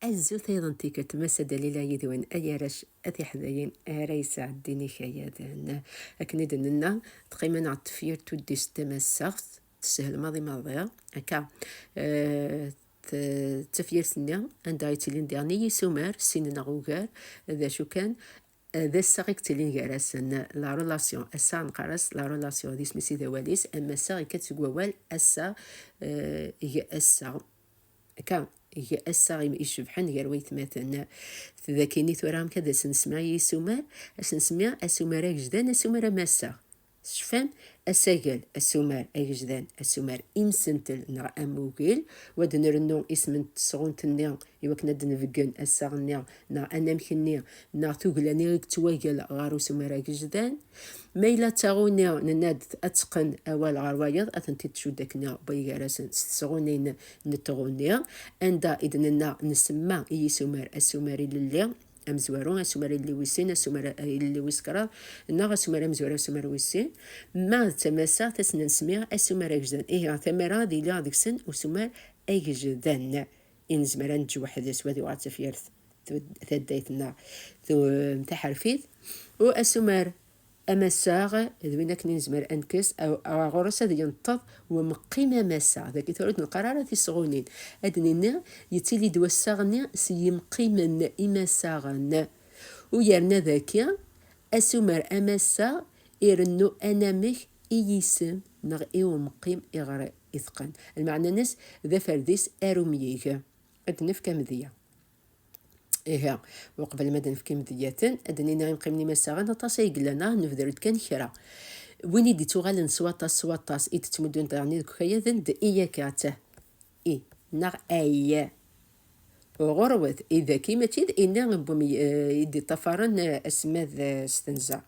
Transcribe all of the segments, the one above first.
Azul tayeḍ tikkelt massa Dalila yid-wen ay arrac at iḥdayen ara yesɛeddin ikayaden akken id nenna tqimen ɣer tefyirt tuddist tamassaɣt teshel maḍi maḍi akka d tafyirt-nni anda yettilin diɣen i yisumar sin neɣ ugar d acu kan d assaɣ i yettilin gar-asen, la relation, assaɣ neqqar-as la relation, d isem-is i d awal-is, am assaɣ yekka-d seg wawal assaɣ, eg assaɣ, akka, eg assaɣ icebḥen gar waytmaten. Dagi-nni tura amek ad as-nsemma i yisumar, ad as-nsemmi asumar agejdan, asumar amassaɣ. Tecfam, asagal, asumar agejdan, asumar imsentel neɣ amugil, wa d nrennu isem n tesɣunt-nni i wakken ad d-nbeggen assaɣ-nni neɣ anamek-nni neɣ tugla-nni i yettwagal ɣer usumar agejdan. Ma yella d taɣuni, nenna-d ad teqqen awal ɣer wayeḍ, ad tent-id-tcudd akken wway gar-asen s tesɣunin n tɣuni, anda i d-nenna nsemma i yisumar asumar ilelli. amezwaru asumar illi wis sin asumar illi wis kraḍ neɣ asumar amezwaru asumar wis sin ma d tamasa tasna n smiɣ asumar agejdan ihi ɣer tamara ad iliɣ deg-sen usumar agejdan i nezmer ad neǧǧ weḥd-s wad yuɣal d tafyirt taddayt-nneɣ taḥerfit u asumar Amassaɣ, d win akken i nezmer ad nekkes ɣur-s ad yenṭeḍ umeqqi n amassaɣ. Dagi tura ur d-neqqar ara tisɣunin. Ad d-nini, yettili-d wassaɣ-nni s yimqimen imassaɣen. U yerna dagi, asumer amassaɣ irennu anamek i yisem neɣ i umeqqim iɣer iteqqen. Lmeɛna-ines d aferdis arumyig. Ad d-nefk amedya. Ihi, uqbel ma d-nefk imedyaten, ad d-nini imqimen imassaɣen aṭas ay yellan, ah, nebder-d kan kra. Win i d-ittuɣalen s waṭas s waṭas, i d-ttmuddun daɣen deg ukayaden d i akka, ttah, i, neɣ ay. Ɣurwet, i dagi mačči d i-nni n wumi i d-iṭṭafaren aselmad s tenza.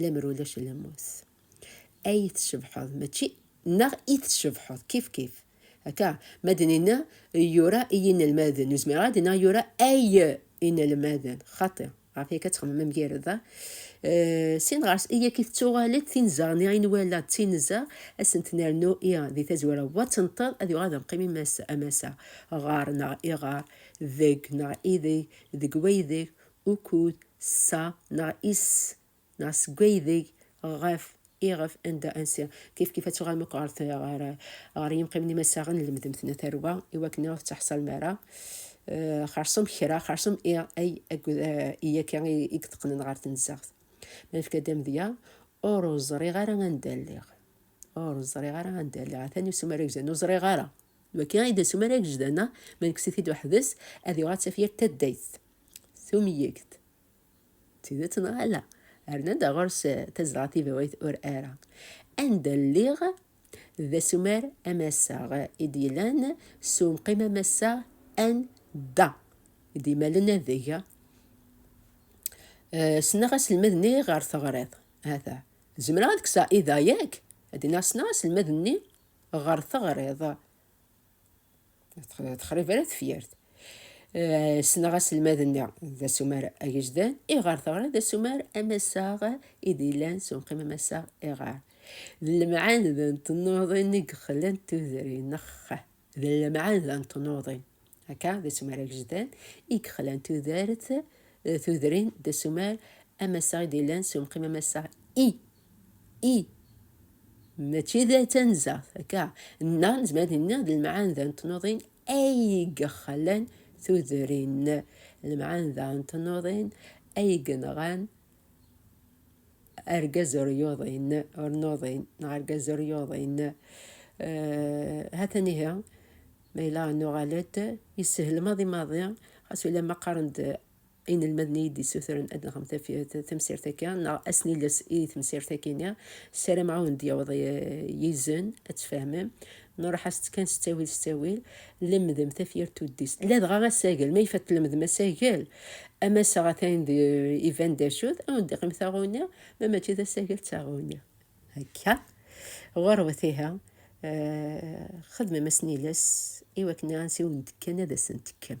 lemmer ulac lmus ay tcebḥeḍ mačči neɣ i tcebḥeḍ kif kif akka ma d-nina yura i yinelmaden ur zmireɣ ad d-iniɣ yura ay inelmaden xaṭi ɣef yakka txemmem amgirred-a eh, sin ɣers i yakk i tettuɣal-d tinzeɣ niɣ i nwala d tinzeɣ ad sent-nernu i di tazwara wa tenṭeḍ ad yuɣal d amqim amasa ɣer neɣ iɣer deg neɣ ideg deg waydeg ukud sa neɣ is neɣ seg waydeg ɣef iɣef anda ansi kif kif ad tuɣalem akk ɣer ɣer ɣer yimqimen imassaɣen lemdemt-na tarwa i wakken iɣef ttaḥsal mi ara eh, xersum kra xersum i ay akked eh, i akka i yeteqqnen ɣer tenzaɣt ma nefka-d amedya ur ẓriɣ ara anda lliɣ ur ẓriɣ ara anda lliɣ atan usum ara gzan ur ẓriɣ ara waki i d asum ara gzdan ma nekkes-it-id uḥdes ad yuɣal d tafyirt taddayt Tumyegt. D tidet neɣ ala? Rnan-d ɣer-s eh, tazdeɣ tibawit ur ara. Anda lliɣ d asumar amassaɣ i d-yellan s umqim amassaɣ anda i d-imalen adeg. Eh, Sneɣ aselmad-nni ɣer teɣriḍ. Hata. Zemreɣ ad kseɣ idayak? Ad d-iniɣ sneɣ aselmad-nni ɣer teɣriḍ. Texrib ara tefyart. Eh, ssneɣ aselmad-nni d asumar agejdan, iɣer teɣra d asumar amassaɣ i d-yellan s unqim amassaɣ iɣer. D lemɛand n tnuḍin i yexlan tudrin, nex d lemɛand n tnuḍin. Akka, d asumar agejdan i yexlan tudert, eh, tudrin d asumar amassaɣ i d-yellan s unqim amassaɣ i i mačči d tanzaɣt akka neɣ nezmer ad nini d lemɛanda n tnuḍin ay yexlan tudrin lemɛanda n tnuḍin ay yenɣan argaz ur yuḍin ur nuḍin neɣ argaz ur yuḍin eh, ha-t-an ihi ma yella nuɣal-d yessehel maḍi maḍi xas ulamma qqaren-d inelmaden iyi d-yessutren ad nɣem tamsirt akka neɣ assen iles i temsirt akini saram ɛawen d-yaweḍ yizen ad tfehmem nruḥ-as-tt kan s ttawil s ttawil lemdem tafyirt tuddist ladɣa asagel ma ifat lemdem asagel amasaɣ atan iban d acu-t awen d-iqim taɣuni ma mačči d asagel d taɣuni akka ɣurwet iha xedmem asen iles iwakken ansi wen-d-kkan ad asen-tekkem